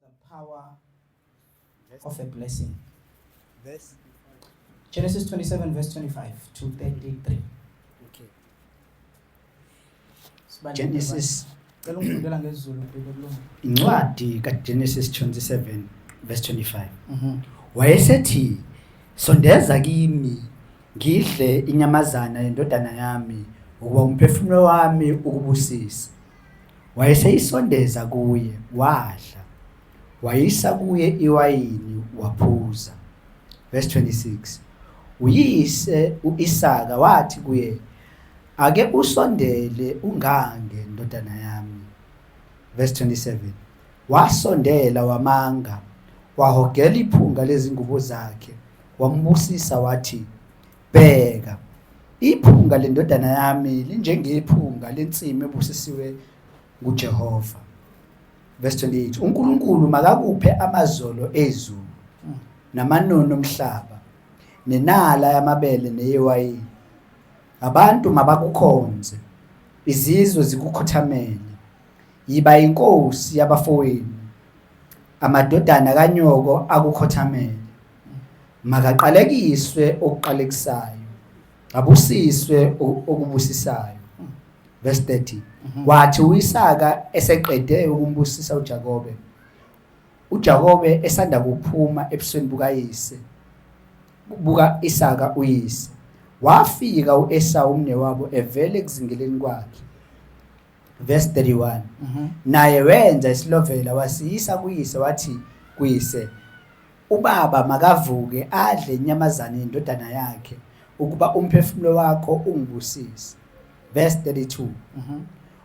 The power of a blessing. Verse Genesis 27 verse 25 to 33. Okay. Genesis Cela ungifundela ngesiZulu Bheka kulunga. incwadi kaGenesis 27 verse 25. Mhm. Wayesethi sondeza kimi ngidle inyamazana yendodana yami ukuba umphefumulo wami ukubusise. Wayeseyisondeza kuye, wadla. Wayisa kuye iwayini, waphuza. Verse 26. Uyise uIsaka wathi kuye, Ake usondele ungange ndodana yami. Verse 27. Wasondela wamanga, wahogela iphunga lezingubo zakhe, wambusisa wathi, Bheka, iphunga lendodana yami linjengephunga lensimu ebusisiwe nguJehova. Verse 28. UNkulunkulu makakuphe amazolo ezulu namanono omhlaba nenala yamabele neyewayini. Abantu mabakukhonze, izizwe zikukhothamele. Yiba inkosi yabafowenu, amadodana kanyoko akukhothamele. makaqalekiswe okuqalekisayo abusiswe okubusisayo verse 30 mhm. wathi uIsaka eseqede ukumbusisa uJakobe uJakobe esanda kuphuma ebusweni bukayise buka Isaka uyise wafika uEsau umnewabo evele kuzingeleni kwakhe verse 31 mhm. naye wenza isilovela wasiyisa kuyise wathi kuyise Ubaba makavuke adle inyamazane yendodana yakhe ukuba umphefumulo wakho ungibusise. Verse 32. Mhm.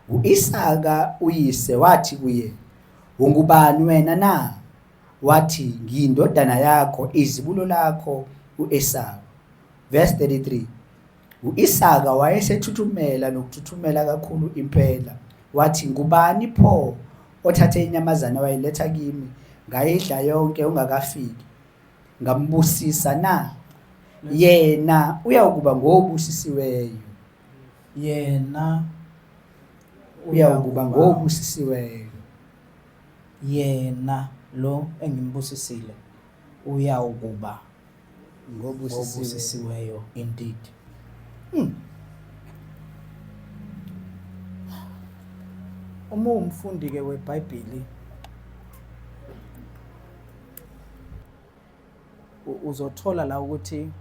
U-Isaka uyise wathi kuye, Ungubani wena na? Wathi, Ngiyindodana yakho, izibulo lakho u-Esawu. Verse 33. U-Isaka wayesethuthumela nokuthuthumela kakhulu impela, wathi, Ngubani pho othathe inyamazane wayiletha kimi, ngayidla yonke ungakafiki, ngambusisa na? Yena uyawukuba ngobusisiweyo. Yena uyawukuba ngobusisiweyo. Yena lo engimbusisile uyawukuba ngobusisiweyo indeed hmm. uma uwumfundi ke webhayibhili uzothola la ukuthi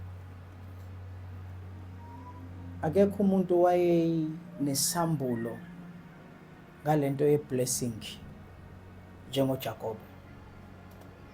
akekho umuntu wayenesambulo ngalento yeblessing njengoJakobe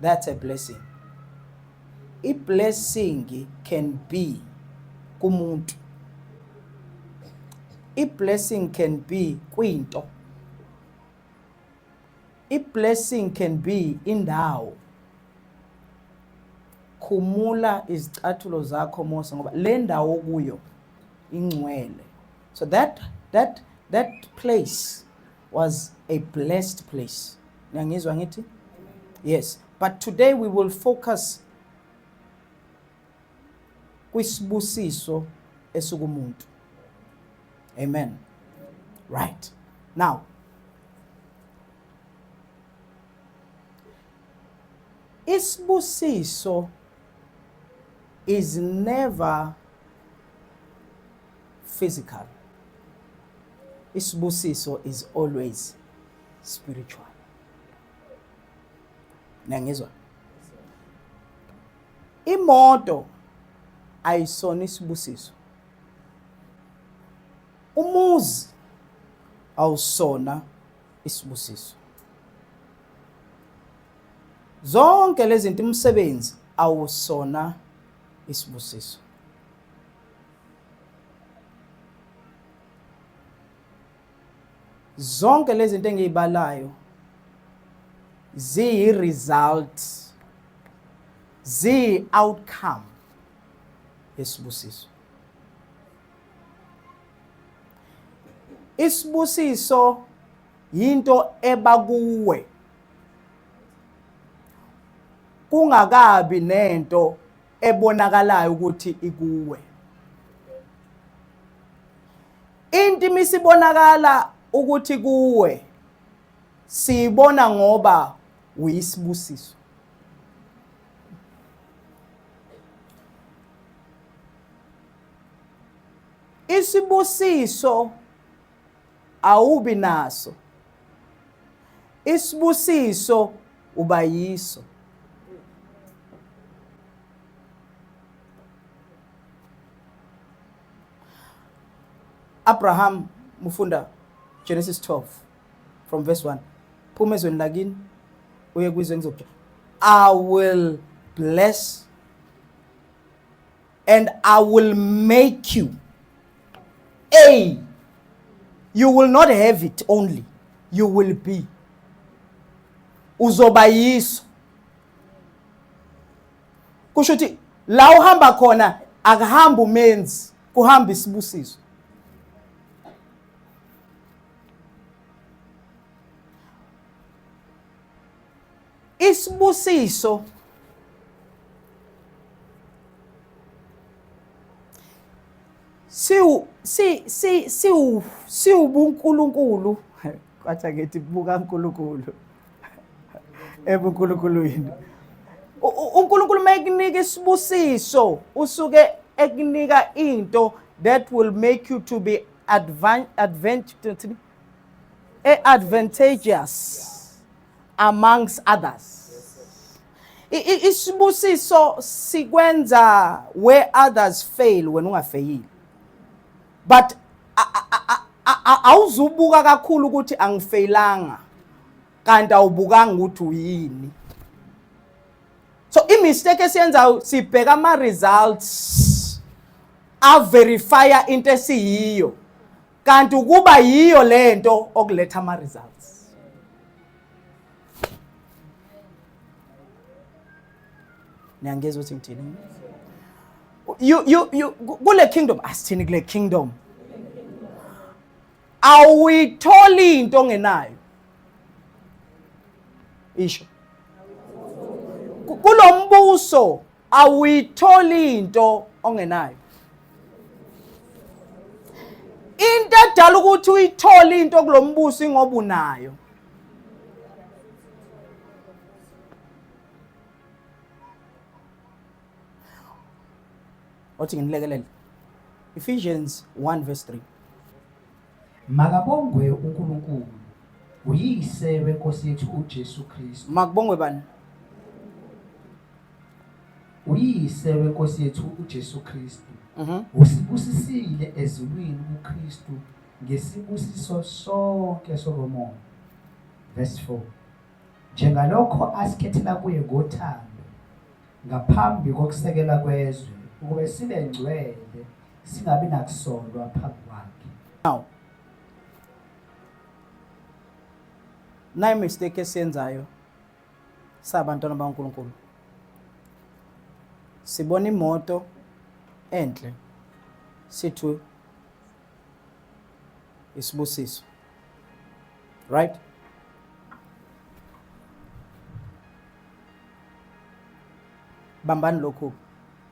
That's a blessing. I blessing can be kumuntu. I blessing can be kwinto. I blessing can be indawo. Khumula izicathulo zakho Mose ngoba le ndawo kuyo ingcwele. So that that that place was a blessed place. Niyangizwa ngithi? Yes. But today we will focus kwisibusiso esikumuntu. Amen. Right. Now, isibusiso is never physical isibusiso is always spiritual nangizwa imoto ayisona isibusiso umuzi awusona isibusiso zonke lezi zinto umsebenzi awusona isibusiso zonke lezi zinto engiyibalayo ziyi result ziyi outcome yesibusiso isibusiso yinto ebakuwe kungakabi nento ebonakalayo ukuthi ikuwe into imisibonakala ukuthi kuwe siyibona ngoba uyisibusiso isibusiso awubi naso isibusiso uba yiso Abraham mufunda Genesis 12 from verse 1 phuma ezweni lakini uye kwizwe ngizokutshela I will bless and I will make you a you will not have it only you will be uzoba yiso kusho ukuthi la uhamba khona akuhamba umenzi kuhamba isibusiso Isibusiso siwu si si siwu siwubunkulunkulu kwathi ngithi buka uNkulunkulu ebunkulunkulwini uNkulunkulu mayikunika isibusiso usuke ekunika into that will make you to be advan advantage e advantageous amongst others isibusiso sikwenza where others fail wena ungafeyile but awuzubuka kakhulu ukuthi angifeyilanga kanti awubukanga ukuthi uyini so imistake esiyenzayo sibheka ama-results averifya into esiyiyo kanti ukuba yiyo lento okuletha ama results niyangizwa ukuthi ngithini you you you kule kingdom asithini kule kingdom awuyitholi into ongenayo isho kulombuso awuyitholi into ongenayo into edala ukuthi uyithole into kulombuso ingoba unayo othi nginilekelele Ephesians 1 verse 3 Makabongwe uNkulunkulu, uYise weNkosi yethu uJesu Kristu. Makubongwe bani? UYise weNkosi yethu uJesu Kristu. Mhm. Usibusisile ezulwini kuKristu ngesibusiso sonke sokomoya. Verse 4. Njengalokho asikhethela kuye ngothando ngaphambi kokusekela kwezwe ukuba sibe ngcwele singabi nakusolwa phambi kwakhe now nayi mistake esiyenzayo sabantwana baNkulunkulu sibona imoto enhle sithu isibusiso right bambani lokhu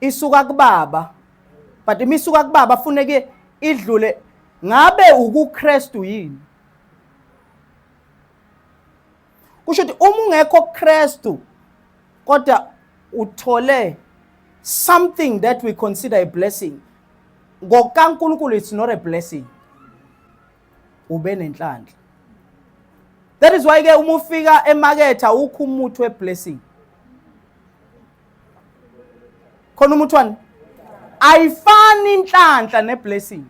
isuka kubaba but uma isuka kubaba funeke idlule ngabe ukuKristu yini kusho ukuthi uma ungekho kuKristu kodwa uthole something that we consider a blessing ngokaNkulunkulu it's not a blessing ube nenhlanhla that is why ke uma ufika emaketha ukho umuthi weblessing khona umuthi wani ayifani inhlanhla neblessing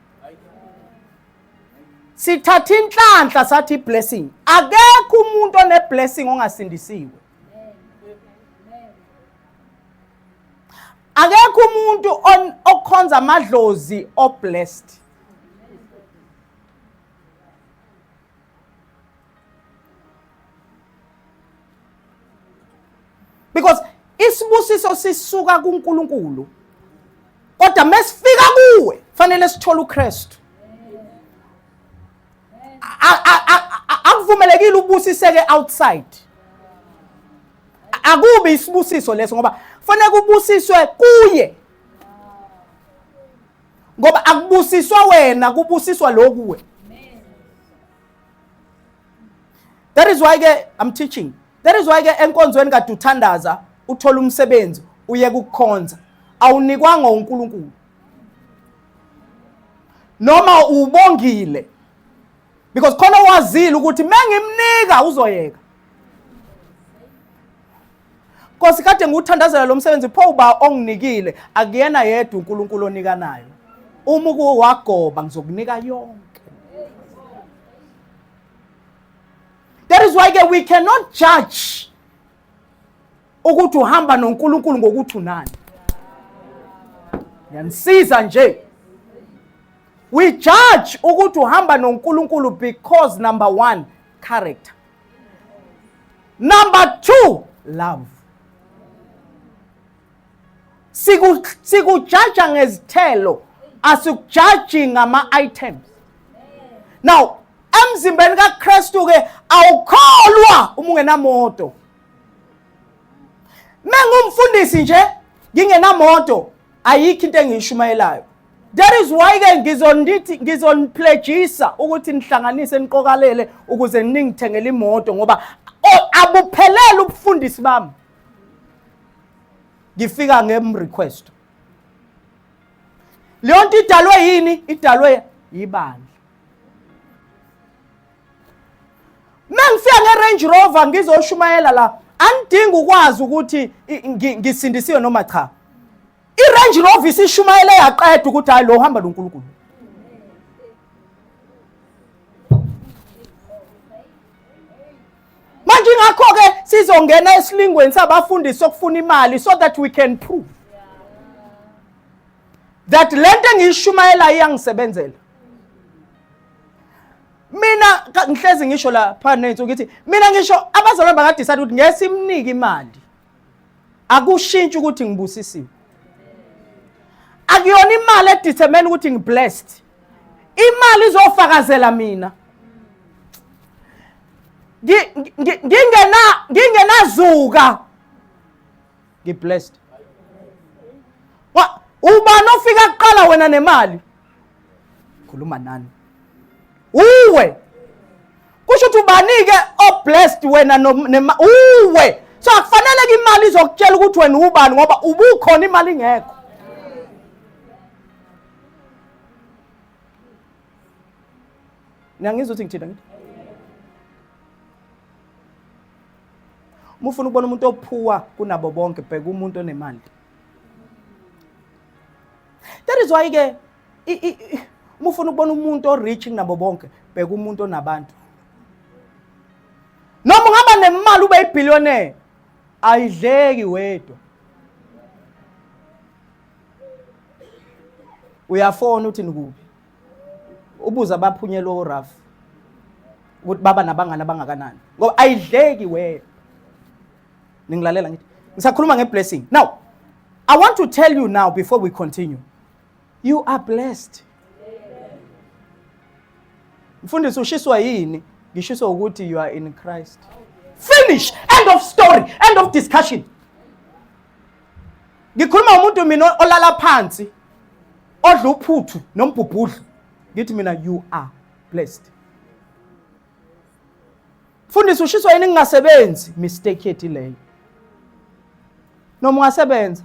sithatha inhlanhla sathi iblessing akekho umuntu oneblessing ongasindisiwe akekho umuntu okhonza amadlozi oblessed because isibusiso sisuka kuNkulunkulu kodwa mesifika kuwe fanele sithole uKristu akuvumelekile ubusiseke outside akubi isibusiso leso ngoba fanele kubusiswe kuye ngoba akubusiswa wena kubusiswa lokuwe that is why ke i'm teaching that is why ke enkonzweni kade uthandaza uthola umsebenzi uye kukukhonza awunikwanga uNkulunkulu noma ubongile because khona wazile ukuthi mengimnika uzoyeka Nkosi kade ngiwuthandazela lo msebenzi pho uba onginikile akuyena yedwa uNkulunkulu onikanayo. Uma ukuwo wagoba ngizokunika yonke. That is why ke we cannot judge ukuthi uhamba noNkulunkulu ngokuthi unani. Yanisiza nje. We judge ukuthi uhamba noNkulunkulu because number 1 character. Number two, love. Sikujaja ngezithelo, asikujaji ngama-items. Now, emzimbeni kaKristu ke awukholwa uma ungenamoto. Mengumfundisi nje ngingenamoto ayikho into engiyishumayelayo. That is why ke ngizonithi ngizonipledgisa ukuthi nihlanganise niqokalele ukuze ningithengele imoto ngoba abuphelele ubufundisi bami. Ngifika ngem request. Leyo nto idalwe yini? Idalwe yibandla. Mengifika nge Range Rover ngizoshumayela la angidingi ukwazi ukuthi ngisindisiwe noma cha. irange rover isishumayele yaqeda ukuthi hayi lo uhamba nonkulunkulu manje ingakho-ke sizongena esilingweni sabafundisi sokufuna imali so that we can prove that le nto engiyishumayelayo iyangisebenzela mina ngihlezi ngisho la phana nensuku ngithi mina ngisho abazalwane bangadisayida ukuthi ngeke simnike imali akushintshi ukuthi ngibusisiwe akuyona imali edetermine ukuthi ngiblessed imali izofakazela mina ngingena ngingenazuka ngiblessed ubani ofika kuqala wena nemali khuluma nani uwe kusho ukuthi ubanike oblessed wena uwe so akufaneleke imali izokutshela ukuthi wena ubani ngoba ubukhona imali ingekho niyangizwa ukuthi ngithina ngithi uma ufuna ukubona umuntu ophuwa kunabo bonke bheka umuntu onemali that is why-ke uma ufuna ukubona umuntu orich kunabo bonke bheka umuntu onabantu noma ungaba nemali ube yibillionaire ayidleki wedwa uyafona uthi nikuphi ubuza abaphunyelwe oraf ukuthi baba nabangani abangakanani ngoba ayidleki wedwa ningilalela ngithi ngisakhuluma ngeblessing now i want to tell you now before we continue You are blessed. Mfundisi ushiswa yini? Ngishiswa ukuthi you are in Christ. Finish. End of story. End of discussion. Ngikhuluma umuntu mina olala phansi odla uphuthu nombhubhudlu. Ngithi mina you are blessed. Mfundisi ushiswa yini ngingasebenzi? Mistake yethi leyo. Noma ungasebenza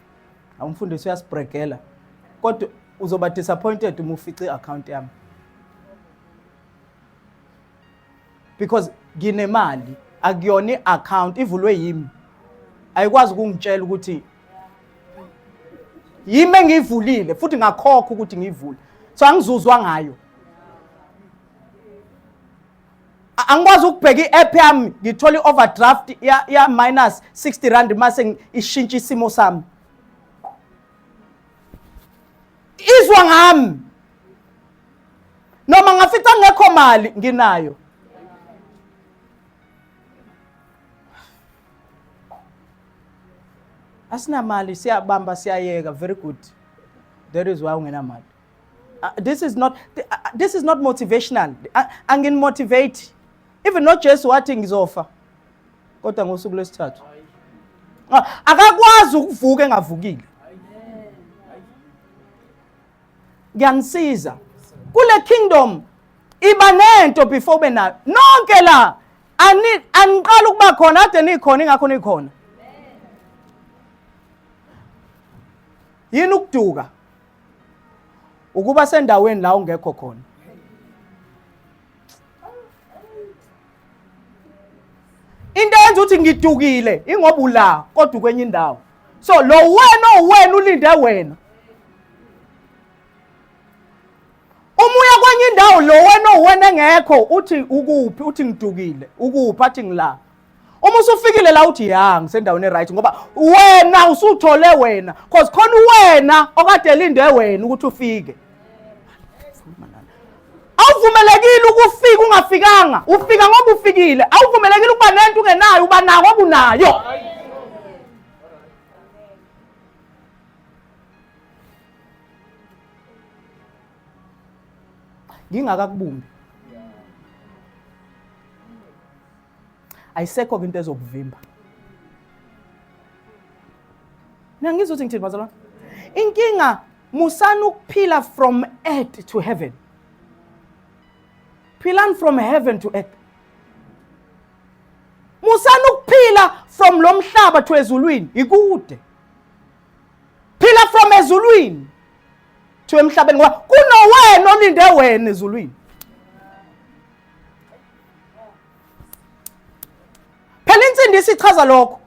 awumfundisi uyasibregela kodwa uzoba disappointed uma ufice i-account yami because nginemali akuyona i-account ivulwe yimi ayikwazi ukungitshela ukuthi yimi engiyivulile futhi ngakhokha ukuthi ngiyivule so angizuzwa ngayo angikwazi ukubheka i-app yami ngithola i-overdraft ya-minus 60 rand mase ishintsha isimo sami izwa ngami noma ngafica ngekho mali nginayo asinamali siyabamba siyayeka very good that is why ungenamali Uh, this is not uh, this is not motivational uh, angin motivate even no Jesu wathi ngizofa kodwa ngosuku lwesithathu ah, akakwazi ukuvuka engavukile ngiyanisiza kule kingdom iba nento before ube nayo nonke la aniqala ukuba khona ade nikhona ingakho nikhona yini ukuduka ukuba sendaweni la ungekho khona into yenza ukuthi ngidukile ingoba ula kodwa ukwenye indawo so lo wena owena ulinde wena uma uya kwenye indawo lo wena owena engekho uthi ukuphi uthi ngidukile ukuphi athi ngila uma usufikile la uthi ya ngisendaweni eright ngoba wena usuthole wena cause khona uwena okade elinde wena ukuthi ufike awuvumelekile ukufika ungafikanga ufika ngoba ufikile awuvumelekile ukuba nento ungenayo uba nayo ngoba unayo ngingakakubumbi ayisekho-ke into ezokuvimba nangizwa ukuthi ngithini bazalwane inkinga musani ukuphila from earth to heaven philani from heaven to earth musani ukuphila from lo mhlaba to ezulwini ikude phila from ezulwini to emhlabeni ngoba kunowena olinde wena ezulwini phela insindisi ichaza lokho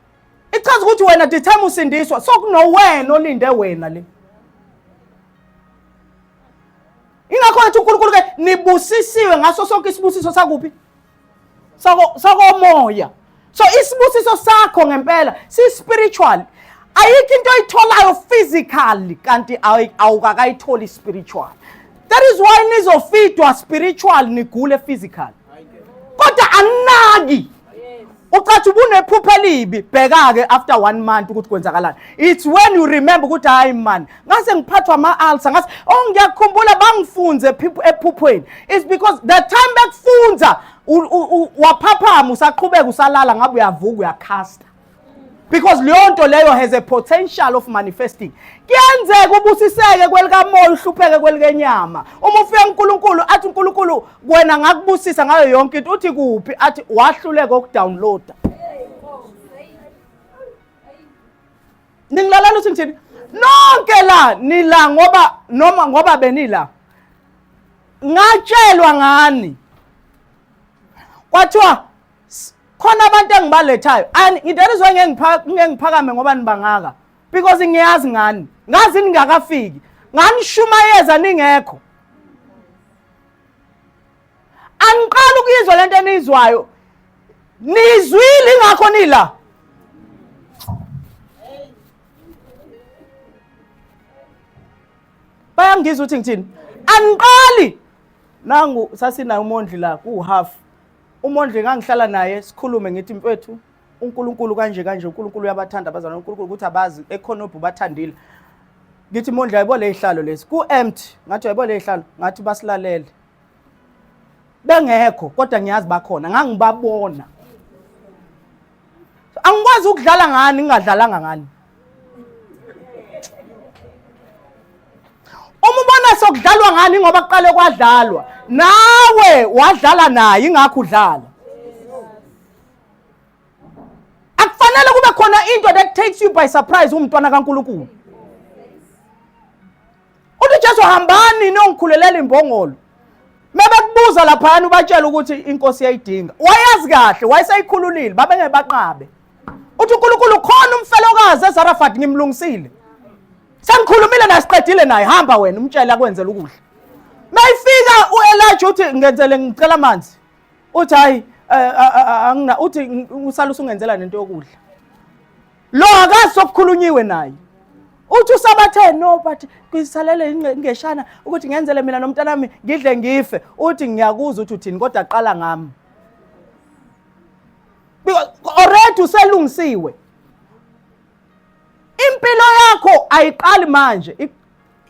ichaza ukuthi wena the time usindiswa sokunowena olinde wena le ingakho wathi unkulunkulu ke nibusisiwe ngaso sonke isibusiso sakuphi sakomoya so isibusiso sakho ngempela si spiritual ayikho into oyitholayo physically kanti awukakayitholi spiritual that is why nizofidwa spiritual nigule physical kodwa anaki ucathi ubunephupha elibi bheka-ke after one month ukuthi kwenzakalani it's when you remember ukuthi hhayi mani ngase ngiphathwa ama-alsa ngase oh ngiyakukhumbula bangifunze ephuphweni it's because the time bekufunza waphaphama usaqhubeka usalala ngabe uyavuka uyakhasta because leyo nto leyo has a potential of manifesting kuyenzeka ubusiseke kwelikamoya uhlupheke kwelikenyama uma ufika unkulunkulu athi unkulunkulu wena ngakubusisa ngayo yonke into uthi kuphi athi wahluleka ukudownloada ningilalela ukuthi ngithini nonke la nila ngoba noma ngoba benila ngatshelwa ngani kwathiwa khona abantu engibalethayo ngidela izwe ngeke ngiphakame ngoba nibangaka because ngiyazi ngani ngazi ningakafiki nganishumayeza ningekho angiqala ukuyizwa le nto eniyizwayo niyizwile ingakho nila bayangizwa ukuthi ngithini angiqali nangu sasinayo umondli la kuwuhalf umondli ngangihlala naye sikhulume ngithi mfethu uNkulunkulu kanje kanje uNkulunkulu uyabathanda abazana uNkulunkulu ukuthi abazi ekhona obhu bathandile ngithi mondla yabo lezihlalo lezi ku empty ngathi yabo lezihlalo ngathi basilalele bengekho kodwa ngiyazi bakhona ngangibabona angikwazi ukudlala ngani ngingadlalanga ngani uma ubona sokudlalwa ngani ngoba kuqale kwadlalwa nawe wadlala naye ingakho udlala akufanele kube khona into that takes you by surprise umntwana kaNkuluNkulu uthi jesu hambani niyongikhulelela imbongolo mebekubuza laphayana ubatshela ukuthi inkosi yayidinga wayazi kahle wayeseyikhululile babengeke baqabe uthi unkulunkulu khona umfelokazi ezarafat ngimlungisile sengikhulumile naye siqedile naye hamba wena umtshele akwenzela ukudla mayifika uElijah uthi ngenzele ngicela amanzi uthi hayi eh, eh, eh, angina uthi usala usungenzela nento yokudla lo akazi sokukhulunyiwe naye uthi usabathe no but kuyisalele ingeshana ukuthi ngenzele mina nomntanami ngidle ngife uthi ngiyakuzwa ukuthi uthini kodwa qala ngami already uselungisiwe impilo yakho ayiqali manje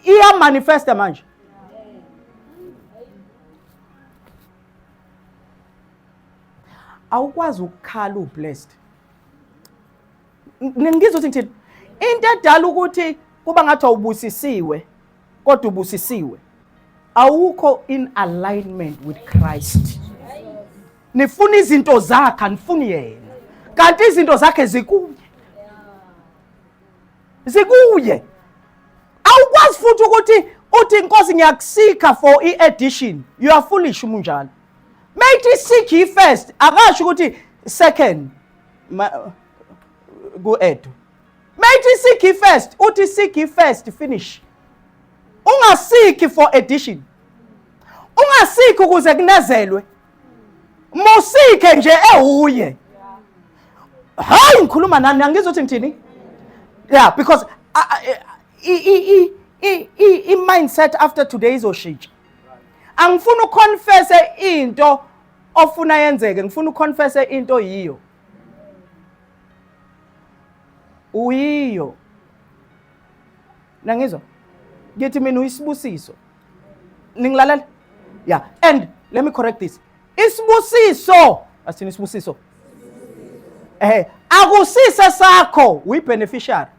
iyamanifesta manje awukwazi ukukhala ublessed ngizwa ukuthi ngithini into edala ukuthi kuba ngathi awubusisiwe kodwa ubusisiwe awukho in alignment with Christ nifuna izinto zakhe anifuni yena kanti izinto zakhe zikuye zikuye awukwazi futhi ukuthi uthi inkosi ngiyakusika for i-edition you are foolish umunjalo mayithi seek yi first akasho ukuthi second ku-edu mayithi seek yi first uthi seek yi first finish ungasiki for addition ungasiki ukuze kunezelwe musike nje ewuye hayi ngikhuluma nani angizwa ukuthi ngithini yeah because i-mindset after today izoshintsha angifuni uconfesse into ofuna yenzeke ngifuna uconfesse into yiyo uyiyo nangizwa ngithi mina uyisibusiso ningilalela yeah and let me correct this isibusiso asithini isibusiso eh akusise sakho uyibeneficiary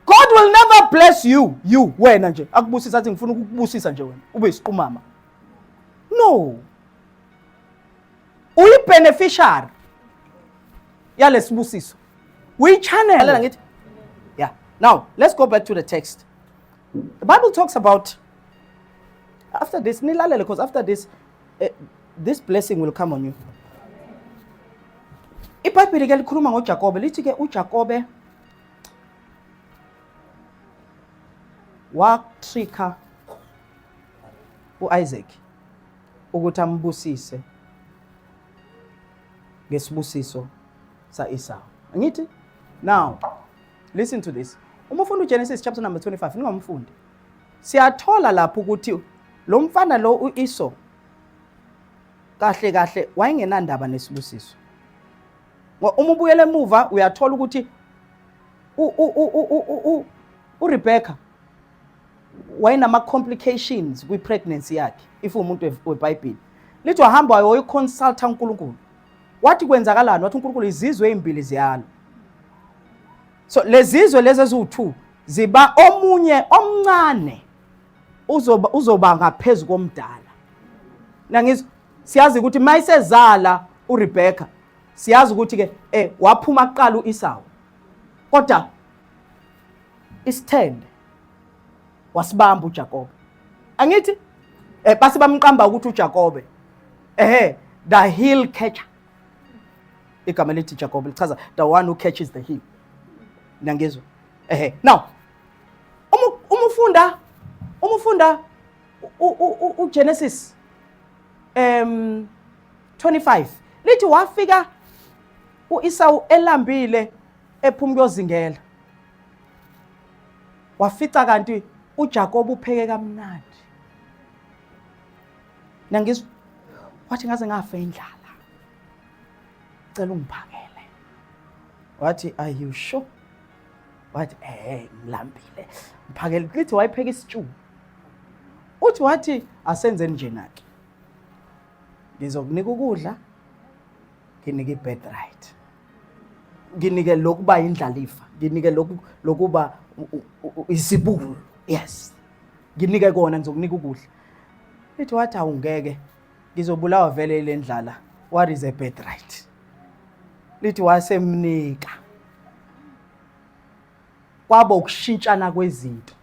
God will never bless you you wena nje akubusisa athi ngifuna ukukubusisa nje wena ube isiqumama no uyi beneficiary yalesibusiso we channel lalela ngithi yeah now let's go back to the text the bible talks about after this nilalele because after this uh, this blessing will come on you ibhayibhile ke likhuluma ngojakobe lithi ke ujakobe watrika u-Isaac ukuthi ambusise ngesibusiso sa-Esau. Angithi? Now, listen to this. Uma ufunda uGenesis chapter number 25, ningamfundi. Siyathola lapho ukuthi lo mfana lo u-Esau kahle kahle wayengenandaba nesibusiso. Uma ubuyela emuva uyathola ukuthi uRebecca wayenama-complications kwi-pregnancy yakhe if umuntu weBhayibheli lithi wahamba wayoyiconsulta uNkulunkulu wathi kwenzakalani wathi uNkulunkulu izizwe ezimbili ziyalo so lezizwe lezi eziwu-two ziba omunye omncane uzoba uzoba ngaphezulu komdala nangizwa siyazi ukuthi mayisezala uRebecca siyazi ukuthi ke eh waphuma kuqala uIsawu kodwa isithende wasibamba uJakobe angithi eh base bamqamba ukuthi uJakobe ehe the heel catcher igama elithi Jakobe lichaza the one who catches the heel nangizwe ehe now uma ufunda uma ufunda uGenesis um 25 lithi wafika uIsawu elambile ephuma kuyozingela wafica kanti uJakob upheke kamnandi nangizwa wathi ngaze ngafa indlala cela ungiphakele wathi are you sure wathi eh ngilambile ngiphakele lithi wayipheka isitshuku uthi wathi asenzeni njena-ke ngizokunika ukudla nginike i-bed right nginike lokuba indlalifa nginike lokuba isibulo yes nginike kona ngizokunika ukudla ithi wathi awungeke ngizobulawa vele ile ndlala what is a bed right lithi wasemnika kwaba ukushintshana kwezinto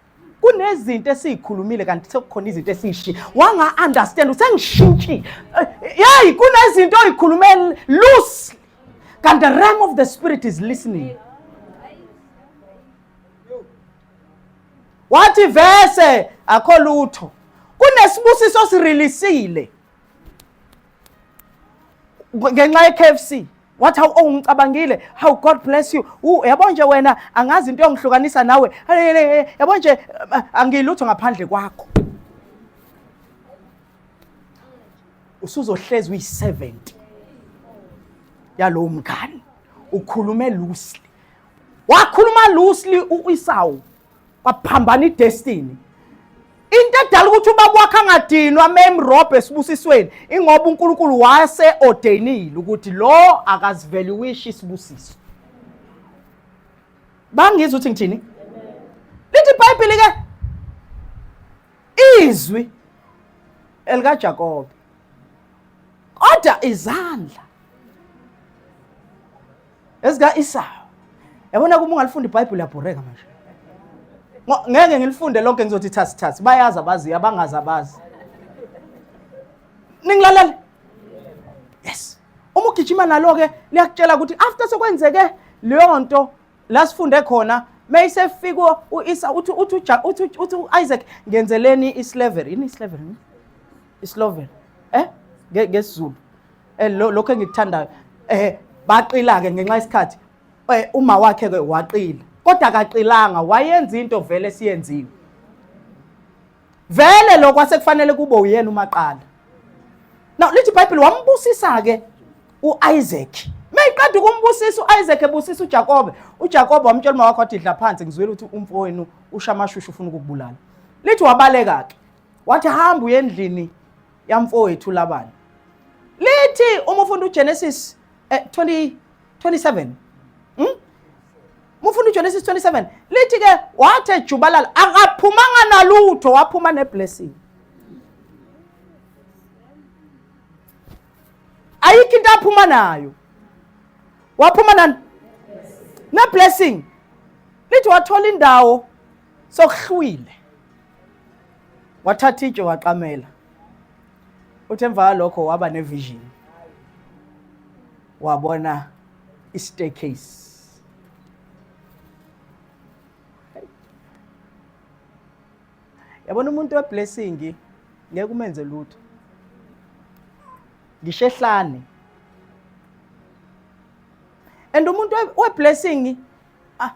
kunezinto esiyikhulumile kanti sekukhona izinto esiyishi wanga understand usengishintshi eh, hey kunezinto oyikhulume loose kanti the realm of the spirit is listening wathi vese akho lutho kunesibusiso sirilisile ngenxa ye-KFC wathi hawu ongicabangile oh, hawu god bless you yabo nje wena angazi into yongihlukanisa nawe yabo nje eh, angilutho ngaphandle kwakho usuzohlezi uyi-70 yalowo mngani ukhulume loosely wakhuluma loosely uisawu kwaphambana idestiny into edala ukuthi uba kwakhe angadinwa memrobho esibusisweni ingoba unkulunkulu wase ordainile ukuthi lo akazivele wishi isibusiso bangizwa ukuthi ngithini lithi ibhayibheli ke izwi elikajakobe kodwa izandla Ezika Isawu. Yabona kuma ungalifunda iBhayibheli yabhoreka manje. Ngeke ngilifunde lonke ngizothi thasi thasi. Bayazi abazi abangazi abazi. Ningilalela? Yes. Uma ugijima nalo ke liyakutshela ukuthi after sekwenzeke leyo nto la sifunde khona mayisefika uIsa uthi uthi uthi uthi uIsaac ngenzeleni islavery yini islavery isloven eh ngesizulu Eh, lo- lokho engikuthandayo um baqila-ke ngenxa yesikhathi um uma wakhe-ke waqila kodwa akaqilanga wayenza into vele esiyenziwe vele lokho asekufanele kube uyena umaqala now lithi ibhayibhile wambusisa-ke u-isaac meyiqeda ukumbusisa u-isaac ebusisa ujakobe ujakobe wamtshela uma wakho wathi dla phansi ngizwile ukuthi umfowenu ushamashushu ufuna ukukubulala lithi wabaleka-ke wathi hamba uyendlini yamfowethu labani lithi uma ufunda uGenesis eh, 20 27 hmm? mufunda uGenesis 27 lithi ke wathi ejubalala akaphumanga nalutho waphuma neblessing ayikho into aphuma nayo waphuma nani neblessing lithi wathola indawo sokuhlwile wathatha itshe waqamela uthi emva kwalokho waba nevision wabona i-staircase yabona umuntu weblessing ngeke umenze lutho ngisho ehlane and umuntu weblessing Ah,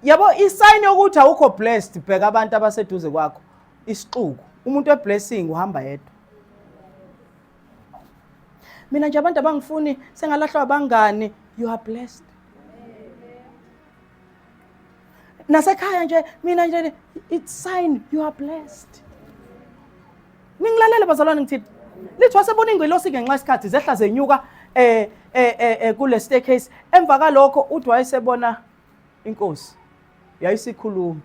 yabo isayini yokuthi awukho blessed bheka abantu abaseduze kwakho isixuku umuntu weblessing uhamba yedwa mina nje abantu abangifuni sengalahlwa abangani you are blessed nasekhaya nje mina nje it's sign you are blessed ningilalele bazalwane ngithini lithi wasebona ingelosi ngenxa isikhathi zehla zenyuka eh eh eh, eh kule staircase emva kalokho uthi wayesebona inkosi yayisikhuluma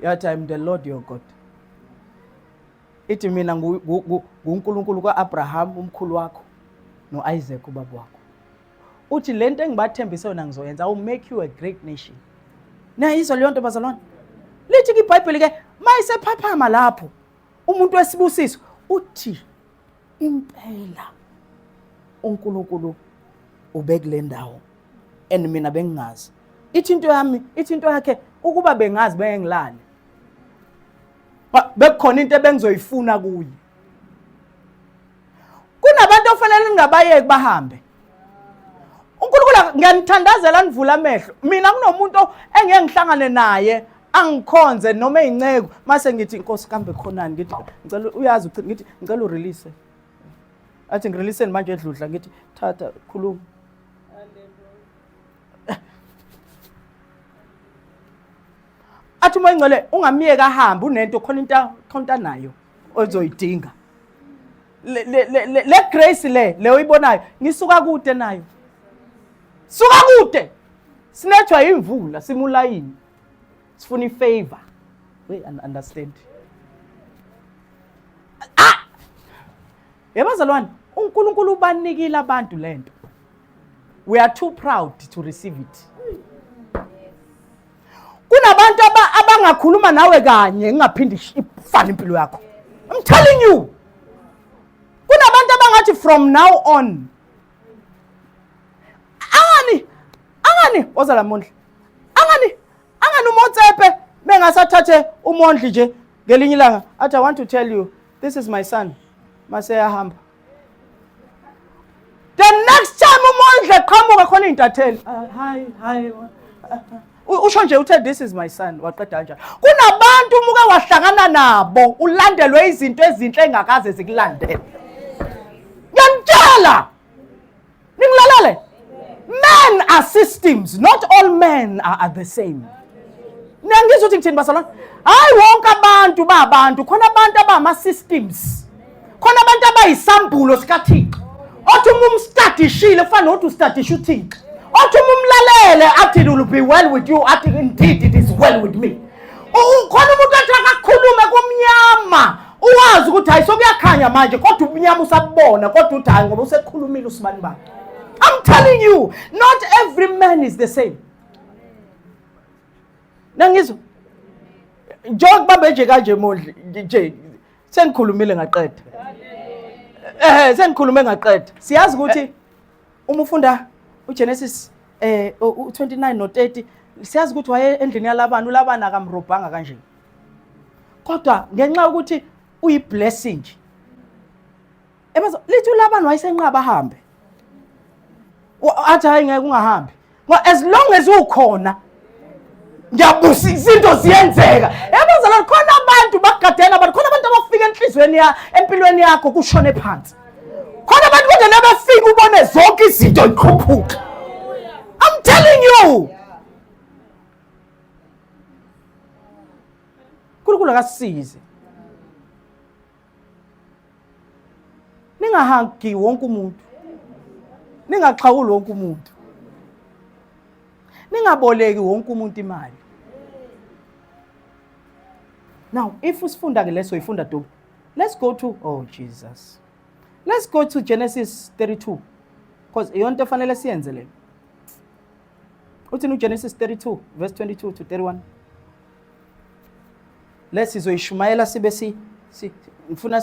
yathi i'm the lord your god ithi mina nguNkulunkulu kaAbraham umkhulu wakho noIsaac ubaba wakho uthi lento engibathembise yona ngizoyenza i make you a great nation nayizwa leyo nto bazalwane lithi kibhayibheli ke mayisephaphama lapho umuntu wesibusiso uthi impela uNkulunkulu ubekule ndawo and mina bengingazi ithi into yami ithi into yakhe ukuba bengazi bengilale bekukhona into ebengizoyifuna kuye kunabantu ofanele ningabayeki bahambe unkulunkulu ngiyanithandazela nivula amehlo mina kunomuntu engeke ngihlangane naye angikhonze noma ey'nceku mase ngithi inkosi kambe khonani ngithi ngicela uyazi ucini ngithi ngicela urelease athi ngireleaseni manje edludla ngithi thatha khuluma athi uma ingcwele ungamyeka ahambe unento khona into khona into anayo ozoyidinga le, le, le, le, le grace le le oyibonayo ngisuka kude nayo suka kude sinethwa imvula simulayini sifuna ifavor we understand ah yebazalwane uNkulunkulu ubanikile abantu lento we are too proud to receive it kunabantu abangakhuluma nawe kanye ingaphinde ifane impilo yakho i'm telling you kunabantu abangathi from now on angani angani woza lamondla angani angani umotsepe bengasathathe umondli nje ngelinye ilanga athi i want to tell you this is my son maseyahamba the next time umondle qhamuka khona iy'ntatheli ah, hayi hayi usho nje uthe this is my son waqeda nje kunabantu umuke wahlangana nabo ulandelwe izinto ezinhle engakaze zikulandele ngiyamtshela ningilalele men are systems not all men are, are the same niyangizwa ukuthi ngithini basalwana hayi wonke abantu babantu khona abantu abama-systems khona abantu abayisambulo sikathixo othi uma umstadishile kufana nokuthi ustadisha uthixo othi uma umlalele athi it will be well with you athi indeed it is well with me khona umuntu athi akakhulume kumnyama uwazi ukuthi hayi sokuyakhanya manje kodwa ubumnyama usabubona kodwa uthi hayi ngoba usekhulumile usibani bani i'm telling you not every man is the same nangizwa njengokuba benje kanje mondli nje sengikhulumile ngaqeda eh sengikhulume ngaqeda siyazi ukuthi uma ufunda uGenesis eh u29 no30 siyazi ukuthi waye endlini yalabani ulabani akamrobhanga kanje kodwa ngenxa yokuthi uyiblessing nje ebazo lithi ulabani wayesenqaba ahambe athi hayi ngeke ungahambi as long as ukhona ngiyabusa izinto ziyenzeka yabazala khona abantu bagadela abantu khona abantu abafika enhlizweni ya empilweni yakho kushone phansi khona abantu kungena befika ubone zonke izinto iqhuphuka i'm telling you uNkulunkulu akasisize ningahagi wonke umuntu ningaxhawuli wonke umuntu ningaboleki wonke umuntu imali now if usifunda ke leso ifunda dobu let's go to oh jesus let's go to genesis 32 because iyonto efanele siyenze leyo uthini ugenesis 32 verse 22 to 31 le sizoyishumayela sibe si ngifuna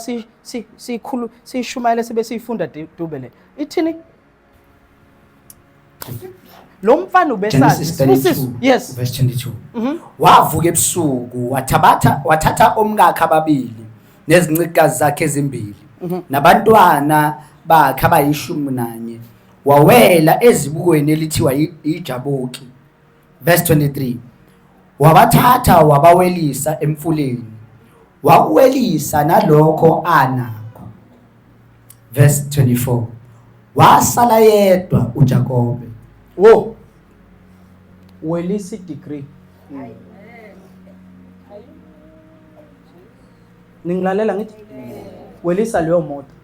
siyikhulu siyishumayele sibe siyifunda dube le ithini lo mfana ubesazi yes verse 22 mhm. wavuka ebusuku wathabatha wathatha omkakhe ababili nezincikazi zakhe ezimbili mhm. nabantwana bakhe abayishumi nanye wawela ezibukweni elithiwa iJaboki verse 23 wabathatha wabawelisa emfuleni wakuwelisa nalokho anakho verse 24 wasala yedwa uJakobe wo welisa degree ningilalela ngithi welisa leyo moto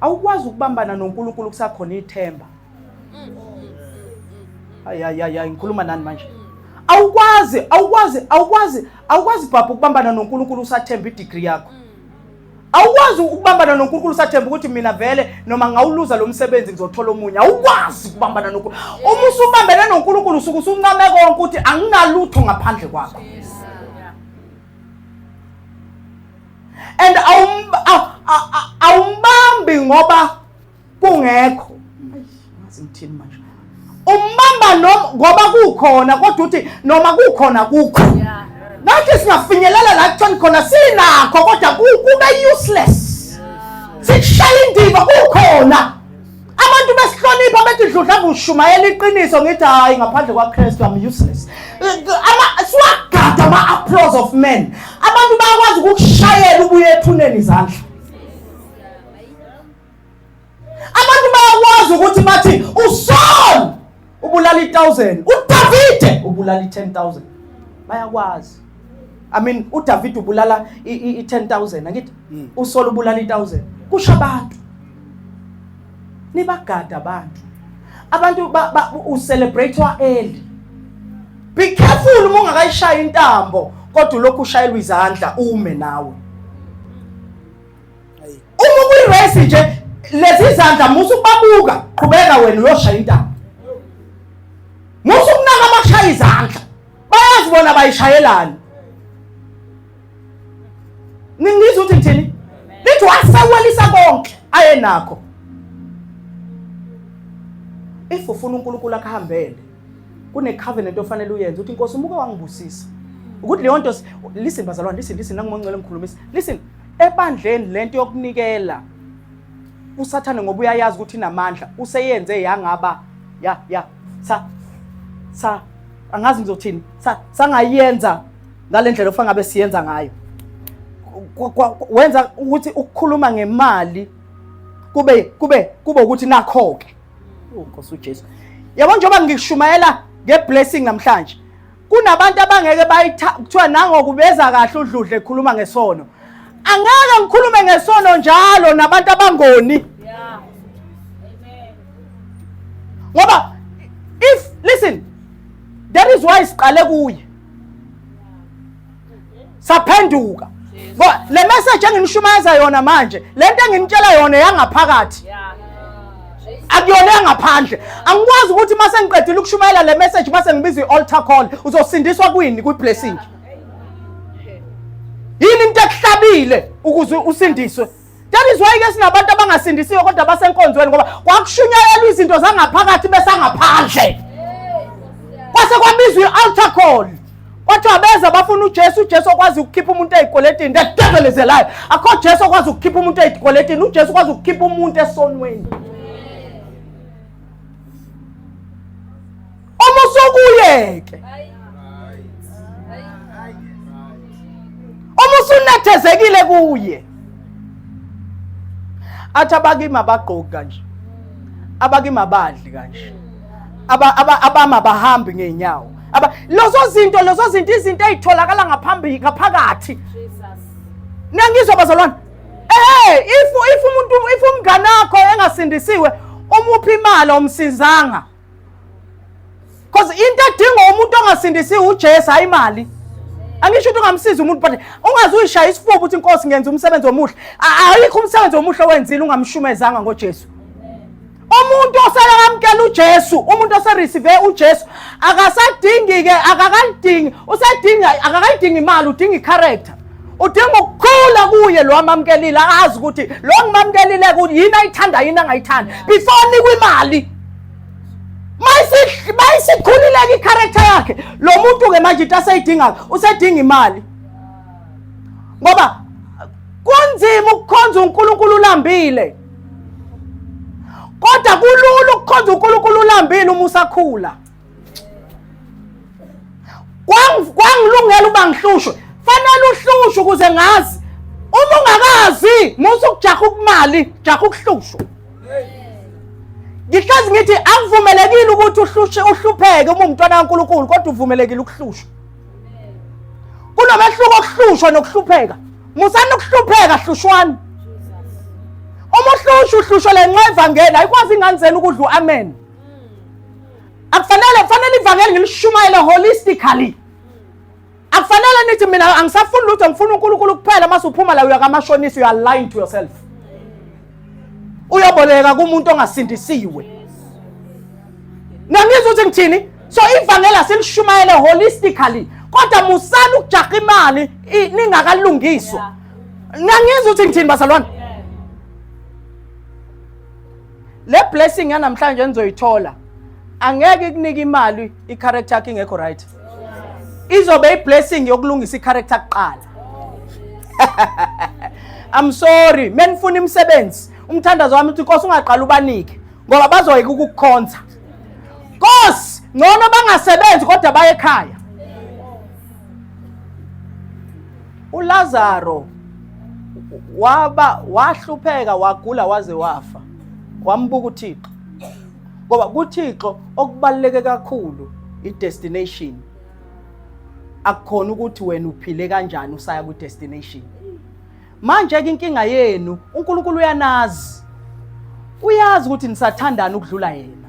awukwazi ukubambana noNkulunkulu kusakhona ithemba ayayayayi ngikhuluma nani manje awukwazi awukwazi awukwazi awukwazi bhabha ukubambana noNkulunkulu usathemba idigri yakho awukwazi ukubambana noNkulunkulu usathemba ukuthi mina vele noma ngawuluza lo msebenzi ngizothola omunye awukwazi ukubambana noNkulunkulu uma usubambene noNkulunkulu usuke usuncame konke ukuthi anginalutho ngaphandle kwakho and awumbambi ngoba kungekho ngithini manje umbamba noma ngoba kukhona kodwa uthi noma kukhona kukho nathi singafinyelela la kuthoni khona sinakho kodwa kube useless sikushaya indiva kukhona abantu besihlonipha bethi dludla ngushumayela iqiniso ngithi hayi ngaphandle kwakristu am useless siwagada ama-applause of men abantu bayakwazi ukukushayela ubuye ethuneni izandla abantu bayakwazi ukuthi bathi usol ubulala i-1000 udavide ubulala i-10000 bayakwazi i mean udavide ubulala i-10000 angithi hmm. usola ubulala i-1000 kusho abantu nibagada abantu abantu ucelebrate-wa early be careful uma ungakayishayi intambo kodwa ulokhu ushayelwa izandla ume nawe uma kuyirace nje lezi zandla musa ukubabuka qhubeka wena uyoshaya intaba musa ukunaka abashaya izandla bayazi bona bayishayelani ningizwa ukuthi ngithini lithi wasewelisa konke ayenakho if ufuna uNkulunkulu akuhambele kune covenant ofanele uyenze uthi inkosi umuke wangibusisa ukuthi leyo nto listen bazalwane listen listen nangumonqele ngikhulumisa listen Ebandleni lento yokunikela usathane ngoba uyayazi ukuthi inamandla useyenze yangaba ya ya sa sa angazi ngizothini sa sangayenza ngalendlela ofanele ngabe siyenza ngayo wenza ukuthi ukukhuluma ngemali kube kube kube ukuthi nakho ke oh, Nkosi uJesu yabo njengoba ngishumayela ngeblessing namhlanje kunabantu abangeke kuthiwa nangokubeza kahle udludle ekhuluma ngesono angeke ngikhulume ngesono njalo nabantu abangoni ngoba if listen that is why siqale kuye saphenduka le message enginishumayeza yona manje le nto enginitshela yona eyangaphakathi akuyona engaphandle angikwazi ukuthi uma sengiqedile ukushumayela le message uma sengibiza i-altar call uzosindiswa kwini kwi-blessing yini into ekuhlabile ukuze usindiswe That is why ke sinabantu abangasindisiwe kodwa basenkonzweni ngoba kwakushunyayelwa izinto zangaphakathi besangaphandle. Kwase kwabizwa i-altar call. Kwathiwa beza bafuna uJesu, uJesu okwazi ukukhipha umuntu ezikweletini. The devil is a liar. Akho Jesu okwazi ukukhipha umuntu ezikweletini, uJesu okwazi ukukhipha umuntu esonweni. uma usokuyeke uma usunethezekile kuye athi abakimi abagqoki kanje abakimi abadli kanje abama abahambi ngeenyawo lezo zinto lezo zinto izinto ezitholakala ngaphambi ngaphakathi nangizwa bazalwane eh if if umuntu if umngane wakho engasindisiwe umuphi imali omsizanga because into edingwa umuntu ongasindisiwe ujesu hhayi imali angisho ukuthi ungamsiza umuntu but ungaze uyishaya isifuba ukuthi inkosi ngenza umsebenzi omuhle ayikho umsebenzi omuhle wenzile ungamshumezanga ngojesu umuntu osekamkela uJesu umuntu osereceive uJesu akasadingi ke akakalidingi usedinga akakalidingi imali udinga icharacter udinga ukukhula kuye lo amamkelile azi ukuthi lo ngimamukelile ukuthi yini ayithanda yini angayithandi before nikwe imali mayisikhulileke i-character yakhe lo muntu-ke manje into aseyidingayo usedinga imali ngoba kunzima ukukhonza unkulunkulu ulambile kodwa kulula ukukhonza unkulunkulu ulambile uma usakhula kwangilungela uba ngihlushwe fanele uhlushwe ukuze ngazi uma ungakazi musa ukujaha ukumali jaha ukuhlushwa ngihlezi ngithi akuvumelekile ukuthi uhlushe uhlupheke uma umntwana kankulunkulu kodwa uvumelekile ukuhlushwa kunomehluko okuhlushwa nokuhlupheka musani ukuhlupheka hlushwani uma uhlushwa uhlushwa le nxa evangeli ayikwazi ingane zenu ukudla u-amen akufanele kufanele ivangeli ngilishumayele holistically akufanele nithi mina angisafuni lutho ngifuna unkulunkulu kuphela uma suphuma la uyakamashonisa you are lying to yourself uyoboleka kumuntu ongasindisiwe nangizwa ukuthi ngithini so ivangeli asilishumayele holistically kodwa musani ukujaha imali ningakalungiswa nangizwa ukuthi ngithini bazalwane le blessing yanamhlanje nizoyithola angeke ikunike imali i-character yakho ingekho right izobe i-blessing yokulungisa i-character kuqala i'm sorry menifuna imisebenzi umthandazo wami uthi nkosi ungaqala ubanike ngoba bazoyeka ukukukhonza nkosi ngcono bangasebenzi kodwa baye ekhaya uLazaro waba wahlupheka wagula waze wafa wambuka uThixo ngoba kuThixo okubaluleke kakhulu i-destination akukhona ukuthi wena uphile kanjani usaya ku-destination Manje-ke inkinga yenu uNkulunkulu uyanazi. Uyazi ukuthi nisathandana ukudlula yena.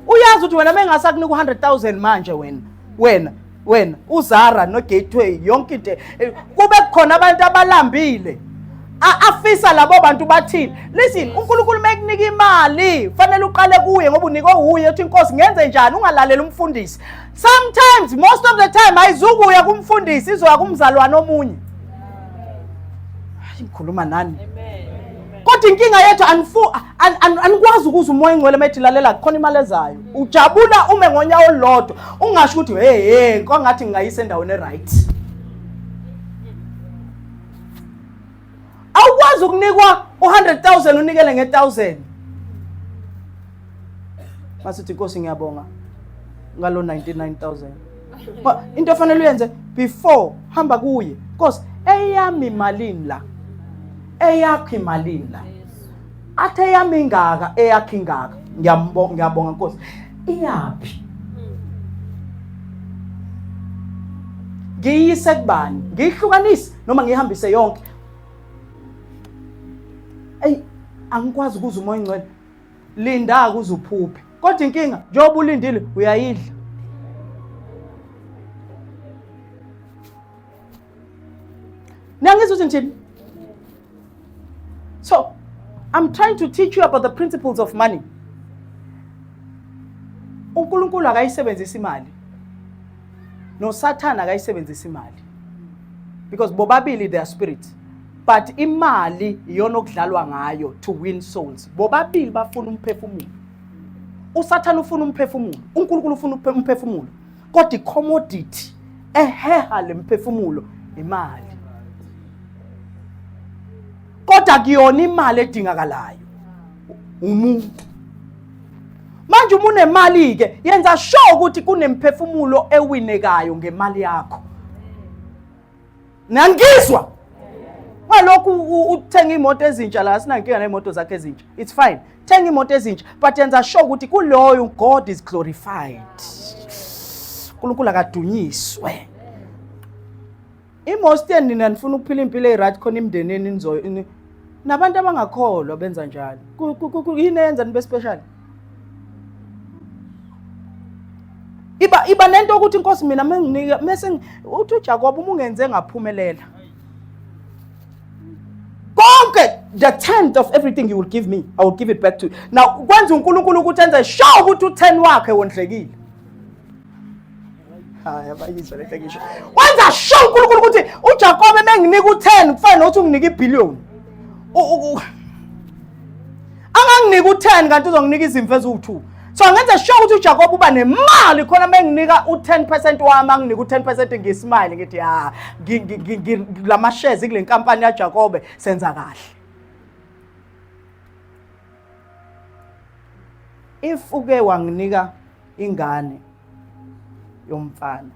Uyazi ukuthi wena mengase akunika u-100,000 manje wena. Wena wena uZara noGateway yonke into eh, kube khona abantu abalambile afisa labo bantu bathini listen uNkulunkulu mekunika imali fanele uqale kuye ngoba unikwe uye uthi inkosi ngenze njani ungalaleli umfundisi sometimes most of the time ayizukuya kumfundisi izoya kumzalwane omunye hayi ngikhuluma nani kodwa inkinga yethu anikwazi ukuza umoya ingcwele uma ethi lalela kukhona imali ezayo ujabula ume ngonyawo olulodwa ungasho ukuthi hey hey kwangathi ngingayisa endaweni e-right awukwazi ukunikwa u-100,000 unikele nge-1000 masithi inkosi ngiyabonga ngalo 99000 into efanele uyenze before hamba kuye nkosi eyami malini la eyakho imalini la athi eyami ingaka eyakho ingaka ngiyambonga ngiyabonga nkosi iyaphi ngiyise kubani ngiyihlukanise noma ngiyihambise yonke eyi angikwazi ukuza umoya ingcwele linda kuze uphuphe kodwa inkinga njengoba ulindile uyayidla niyangizwa ukuthi ngithini so i'm trying to teach you about the principles of money unkulunkulu akayisebenzisi imali nosathane akayisebenzisa imali because bobabili they are spirit but imali iyona okudlalwa ngayo to win souls bobabili bafuna umphefumulo usathane ufuna umphefumulo unkulunkulu ufuna umphefumulo kodwa icommodity eheha le mphefumulo imali kodwa kuyona imali edingakalayo umuntu manje uma unemali-ke yenza sure ukuthi kunemphefumulo ewinekayo ngemali yakho nangizwa ngalokhu uthenga imoto ezintsha la sinankinga nemoto zakhe ezintsha it's fine thenga imoto ezintsha but yenza sure ukuthi kuloyo god is glorified unkulunkulu akadunyiswe Imosten nina nifuna ukuphila impilo eryt khona imndeneni nizo ni- nabantu abangakholwa benza njalo. Ku- ku- ku- ku- Yini eyenza nibe special? Iba iba nento ukuthi inkosi mina menginika mese ngi- uthi uJakobe uma ungenze ngaphumelela. Konke the tenth of everything you will give me, I will give it back to you. Now kwenza uNkulunkulu ukuthi enze sure ukuthi u10 wakhe wondlekile. haya bayizwa lento engisho wenza sure uNkulunkulu ukuthi uJakobe menginika u10 kufanele ukuthi unginike ibillion anganginika u10 kanti uzonginika izimvu eziwu2 so ngenze sure ukuthi uJakobe uba nemali khona menginika u10% wami anginika u10% ngismile ngithi ha lama shares kule nkampani yaJakobe senza kahle if uke wanginika ingane yomfana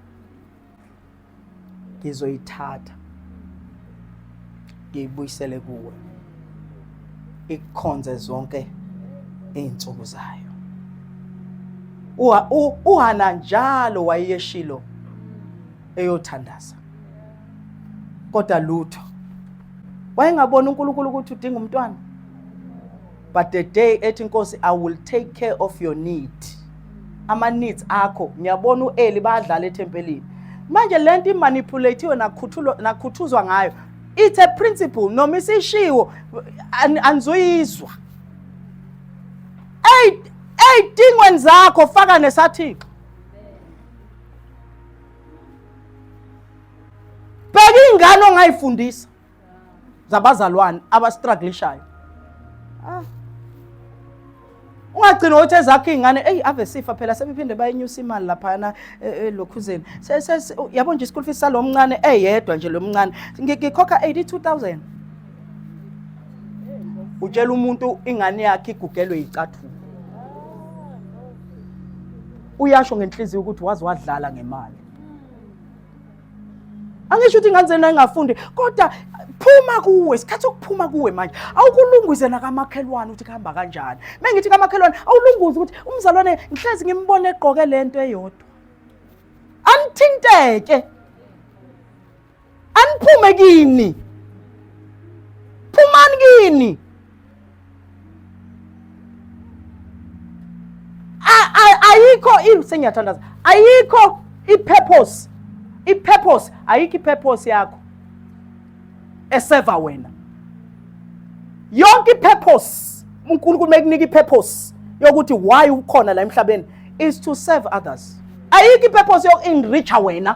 ngizoyithatha ngiyibuyisele kuwe ikukhonze zonke izinsuku zayo uhana njalo wayeshilo eyothandaza kodwa lutho wayengabona uNkulunkulu ukuthi udinga umntwana but the day ethi inkosi i will take care of your need ama needs akho ngiyabona ueli badlala ethempelini manje lento imanipulatiwe nakhuthulwa nakhuthuzwa ngayo it's a principle noma isishiwo anizuyizwa ey'dingweni zakho faka nesathixo bheka ingane ongayifundisa zabazalwane abastruglishayo ah. ungagcina ukuthi ezakho iy'ngane eyi ave sifa phela sebephinde bayinyusa imali laphayana e, e, lokhuzeni yabo nje isikulu fisi salo mncane eyedwa nje lo mncane ngikhokha 82000 utshela umuntu ingane yakhe igugelwe yicathulo uyasho ngenhliziyo ukuthi wazi wadlala ngemali angisho ukuthi ingane zenu ayingafundi kodwa phuma kuwe isikhathi sokuphuma kuwe manje awukulunguze nakamakhelwane ukuthi kuhamba kanjani mengithi kamakhelwane awulunguze ukuthi umzalwane ngihlezi ngimbone egqoke lento eyodwa anithinteke aniphume kini phumani kini ayikho into sengiyathandaza ayikho i-purpose i-purpose ayikho i-purpose yakho eseva wena yonke i-purpose unkulunkulu mekunika i-purpose yokuthi why ukhona la emhlabeni is to serve others ayikho i-purpose yoku-enricha wena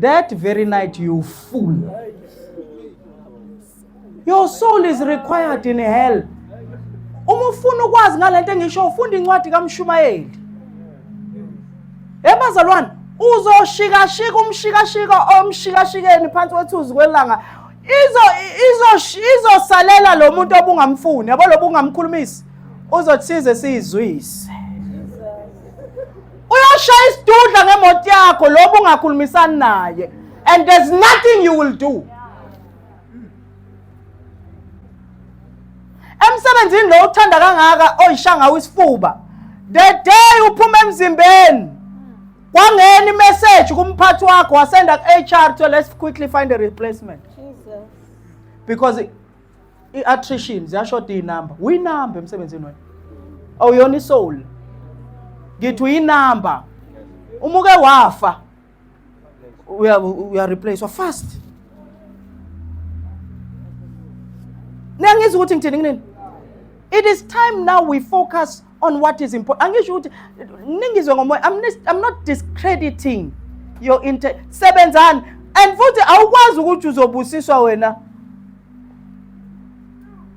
That very night, you fool. Your soul is required in hell. Uma ufuna ukwazi ngalento engisho ufunda incwadi kaMshumayeli. Ebazalwane uzoshikashika umshikashika omshikashikeni phansi kwethuzi kwelanga izo izo izosalela lo muntu obungamfuni yabo lo bungamkhulumisi uzothi size sizwise uyoshaya isidudla ngemoto yakho lobu ungakhulumisani naye and there's nothing you will do emsebenzini lo uthanda kangaka oyishanga wisifuba the day uphuma emzimbeni kwangena imessage kumphathi wakho wasenda ku-hr to let's quickly find a replacement because i-attrition ziyashoda iy'namba uyinamba emsebenzini wena awuyona isoul ngithi uyinamba uma uke wafa uyareplacewa fast niyangizwa ukuthi ngithini kunini it is time now we focus on what is important angisho ukuthi ningizwe ngomoya I'm, I'm not discrediting your intent sebenzani and futhi awukwazi ukuthi uzobusiswa wena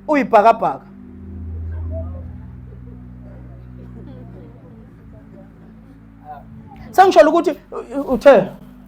uyibhakabhaka sengisholo ukuthi uthe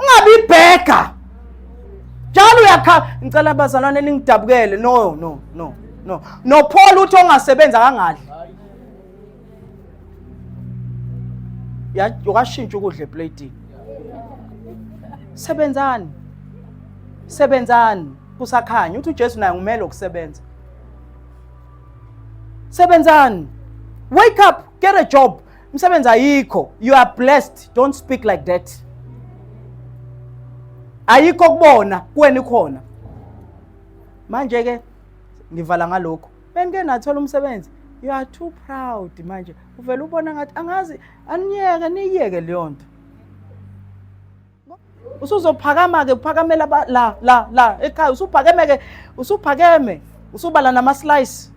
ungabi ibhega njalo uyakhala ngicela abazalwane ningidabukele no no no no no Paul uthi ongasebenza kangadli ya ukashintsha ukudla eplating sebenzani sebenzani kusakhanya uthi uJesu naye ngumele ukusebenza sebenzani wake up get a job Msebenzi ayikho. You are blessed. Don't speak like that. Ayikho kubona kuwena ikhona. Manje ke ngivala ngalokho. Benike nathola umsebenzi. You are too proud manje. Uvela ubona ngathi angazi aniyeke niyeke leyo nto. usuzophakama ke uphakamela la la la ekhaya usuphakeme ke usuphakeme usubala nama slice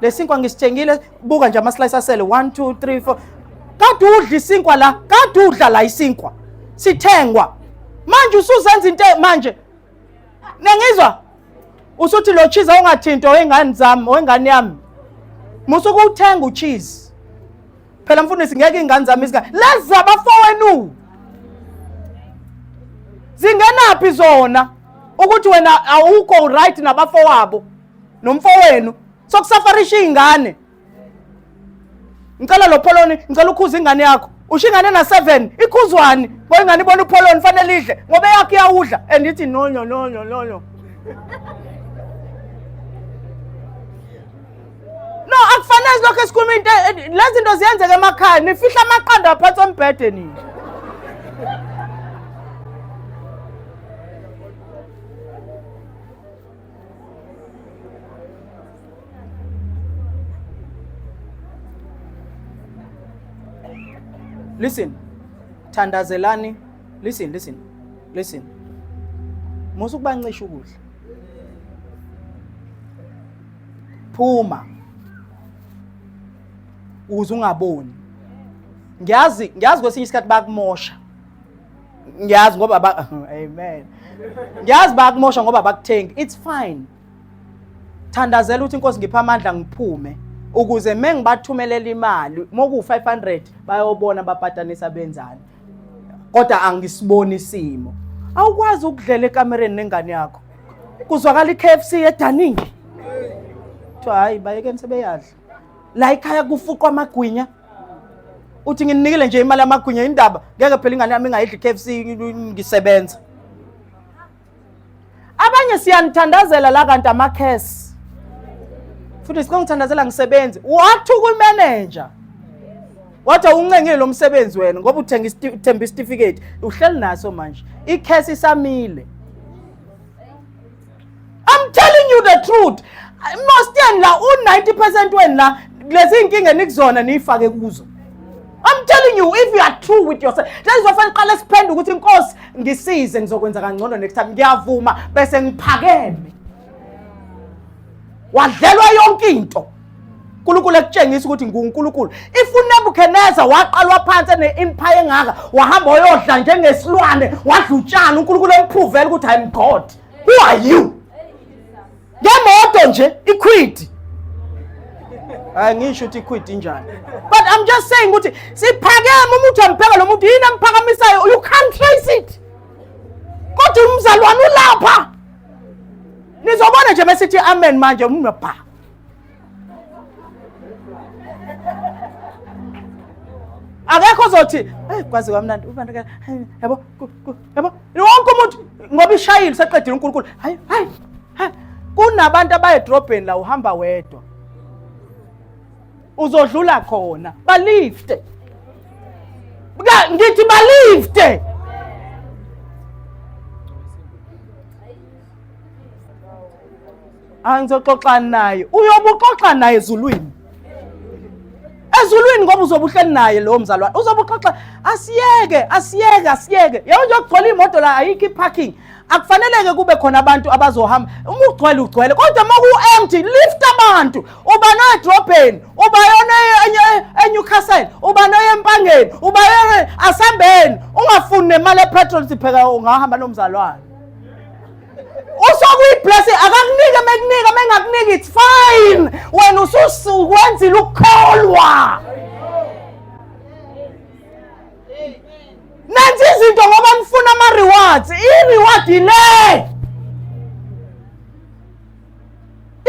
lesinkwa ngisitshengile buka nje ama slice asele 1 2 3 4 kade udla isinkwa la kade udla la isinkwa sithengwa manje usuzenza into e-, manje nengizwa usuthi lo cheese awungathinto wengane zami wengane yami musukuwuthenga ucheese phela mfundisi ngeke iy'ngane zami izingane lezi zabafowenu zingenaphi zona ukuthi wena awukho right nabafowabo nomfowenu sokusafarisha iy'ngane ngicela lo pholoni ngicela ukhuza ingane yakho usho ingane na-seven ikhuzwani ngoba ingane ibona upholoni fanele idle ngoba eyakho iyawudla and ithi nonyo nonyo nonyo No, akufanele lokho esikhuluma into lezi zinto ziyenzeka emakhaya nifihla amaqanda aphansi ombhede nini. Listen. Thandazelani. Listen, listen. Listen. Musukubancisha ukudla. phuma ukuze ungaboni ngiyazi ngiyazi kwesinye isikhathi bakumosha ngiyazi ngoba ba amen ngiyazi bakumosha ngoba bakuthengi it's fine thandazela ukuthi inkosi ngipha amandla ngiphume ukuze mengibathumelela imali moku 500 bayobona bapatanisa benzani kodwa angisiboni isimo awukwazi ukudlela ekamereni nengane yakho kuzwakala i-KFC edaningi kuthiwa hayi bayekeni sebeyadla la ikhaya kufuqwa amagwinya uthi ngininikile nje imali yamagwinya indaba ngeke phela ingane yami ingayidli i-KFC ngisebenza abanye siyanithandazela la kanti amakhesi futhi sikongithandazela ngisebenzi wathi kwimeneja wathi awuncengile lo msebenzi wena ngoba uthenga uthemba isitifiketi uhleli naso manje ikhesi isamile I'm telling you the truth most yeni la u-90 percent wenu la lezi nkinga enikuzona niyifake kuzo I'm telling you if you are true with yourself. That is why fanele qale siphendule ukuthi inkosi ngisize ngizokwenza kangcono next time. Ngiyavuma bese ngiphakeme. Wadlelwa yonke into. uNkulunkulu ekutshengisa ukuthi nguNkulunkulu. If uNebuchadnezzar waqalwa phansi ene-empire engaka, wahamba wayodla njengesilwane, wadla utshani, uNkulunkulu emphuvela ukuthi I'm God. Who are you? ngemoto nje ikhwidi hayi ngisho ukuthi ikhwidi injani but i'm just saying ukuthi siphakeme umuntu ampheka lo muntu yini amphakamisayo you can't trace it kodwa umzalwane ulapha nizobona nje besithi amen manje umnobha akekho ozothi eyi kwazi kwamnandi ubantu yabo yabo wonke umuntu ngoba ishayile useqedile unkulunkulu hayi hayi kunabantu abaye edrobheni la uhamba wedwa uzodlula khona balifte ngithi balifte angizoxoxa naye uyobe uxoxa naye ezulwini ezulwini ngoba uzobe uhleli naye lowo mzalwane uzobe uxoxa asiyeke asiyeke asiyeke yebo nje kugcwele imoto la ayikho iparking akufaneleke kube khona abantu abazohamba uma ugcwele ugcwele kodwa uma ku-empty lift abantu uba noedrobheni uba yona enyucastle uba noyempangeni uba yona asambeni ungafuni nemali epetrol sipheka ungahamba nomzalwane usokuyiblessing akakunike mekunika mengakuniki it's fine wena usukwenzile ukukholwa nenza izinto ngoba nifuna ama-rewards i-reward yile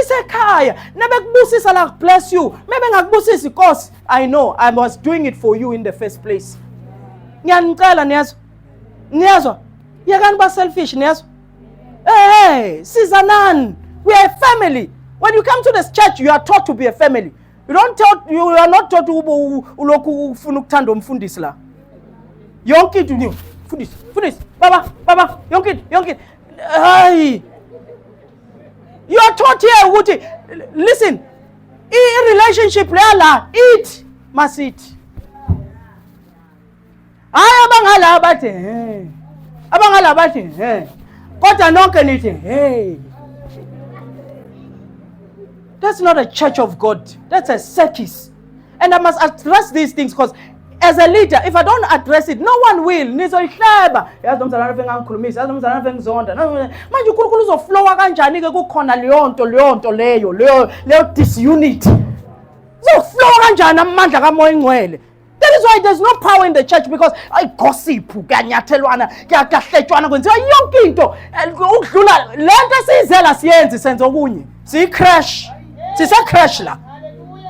isekhaya nebekubusisa la bless you mebengakubusisi inkosi i know i was doing it for you in the first place ngiyanicela niyazwa niyazwa yekani ba selfish niyezwa hey sizanani we are a family when you come to this church you are taught to be a family you don't tell, you are not taught ulokhu ufuna ukuthanda umfundisi la yonke into nje fundisi fundisi baba baba yonke into yonke into hayi you are taught here ukuthi listen i relationship lala it must it hayi abangala bathi he abangala bathi he kodwa nonke nithi he that's not a church of god that's a circus and i must address these things because as a leader if i don't address it no one will nizoyihleba yazi nomzalwana afe ngangikhulumisa yazi nomzalwana afe ngizonda manje unkulunkulu uzoflowa kanjani-ke kukhona leyo nto leyo nto leyo leyo leyo disunity uzoflowa kanjani amandla kamoya ingcwele That is why there's no power in the church because I gossip, kuyanyathelwana, kuyahletshwana kwenziwa yonke into. Ukudlula lento esiyizela siyenzi senza okunye. Siyi crash. Sise crash la.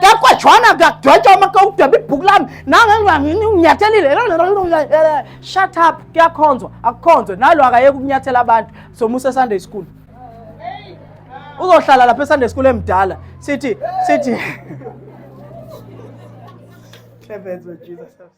Kakwajwana kudwetshwa uma kudweba ibhuku lami nangenginyathelile shut up kuyakhonzwa akukhonzwe nalo akayeke ukunyathela abantu somusa Sunday school uzohlala lapha esunday school emdala sithi sithi